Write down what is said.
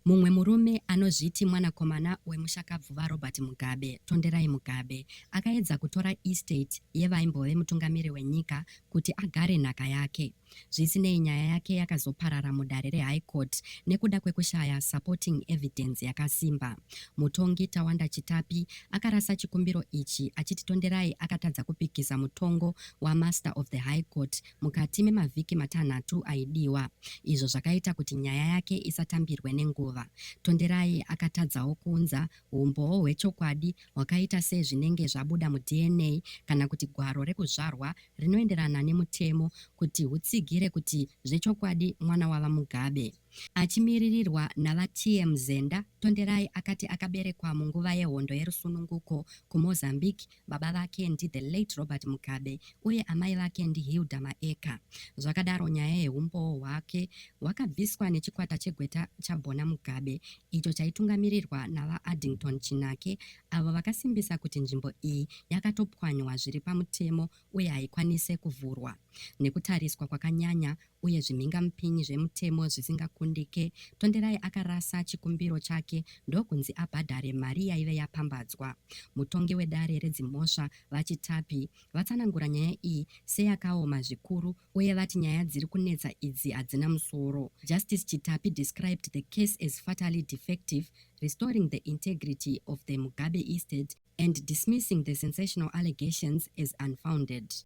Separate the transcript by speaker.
Speaker 1: Mumwe murume anozviti mwanakomana wemushakabvu VaRobert Mugabe, Tonderai Mugabe, akaedza kutora estate yevaimbove mutungamiri wenyika kuti agare nhaka yake. Zvisinei, nyaya yake yakazoparara mudare reHigh Court nekuda kwekushaya supporting evidence yakasimba. Mutongi Tawanda Chitapi akarasa chikumbiro ichi achiti Tonderai akatadza kupikisa mutongo waMaster of the High Court mukati memavhiki matanhatu aidiwa, izvo zvakaita kuti nyaya yake isatambirwe nenguva. Tonderai akatadzawo kuunza humbowo hwechokwadi hwakaita sezvinenge zvabuda muDNA kana kuti gwaro rekuzvarwa rinoenderana nemutemo kuti hutsigire kuti zvechokwadi mwana waVaMugabe. Achimiririrwa naVaTM Zenda, Tonderai akati akaberekwa munguva yehondo yerusununguko kuMozambique Baba vake ndi the late Robert Mugabe uye amai vake ndi Hilda Maeka. Zvakadaro nyaya yehumbowo hwake hwakabviswa nechikwata chegweta chaBona Mugabe icho chaitungamirirwa naVaAddington Chinake avo vakasimbisa kuti nzvimbo iyi yakatopwanywa zviri pamutemo uye haikwanise kuvhurwa nekutariswa kwakanyanya uye zvimhingamupinyi zvemutemo zvisingakundike, Tonderai akarasa chikumbiro chake ndokunzi abhadhare mari yaive yapambadzwa. Mutongi wedare redzimhosva, VaChitapi, vatsanangura nyaya iyi seyakaoma zvikuru uye vati nyaya dziri kunetsa idzi hadzina musoro. Justice Chitapi described the case as fatally defective, restoring the integrity of the Mugabe estate and dismissing the sensational allegations as unfounded.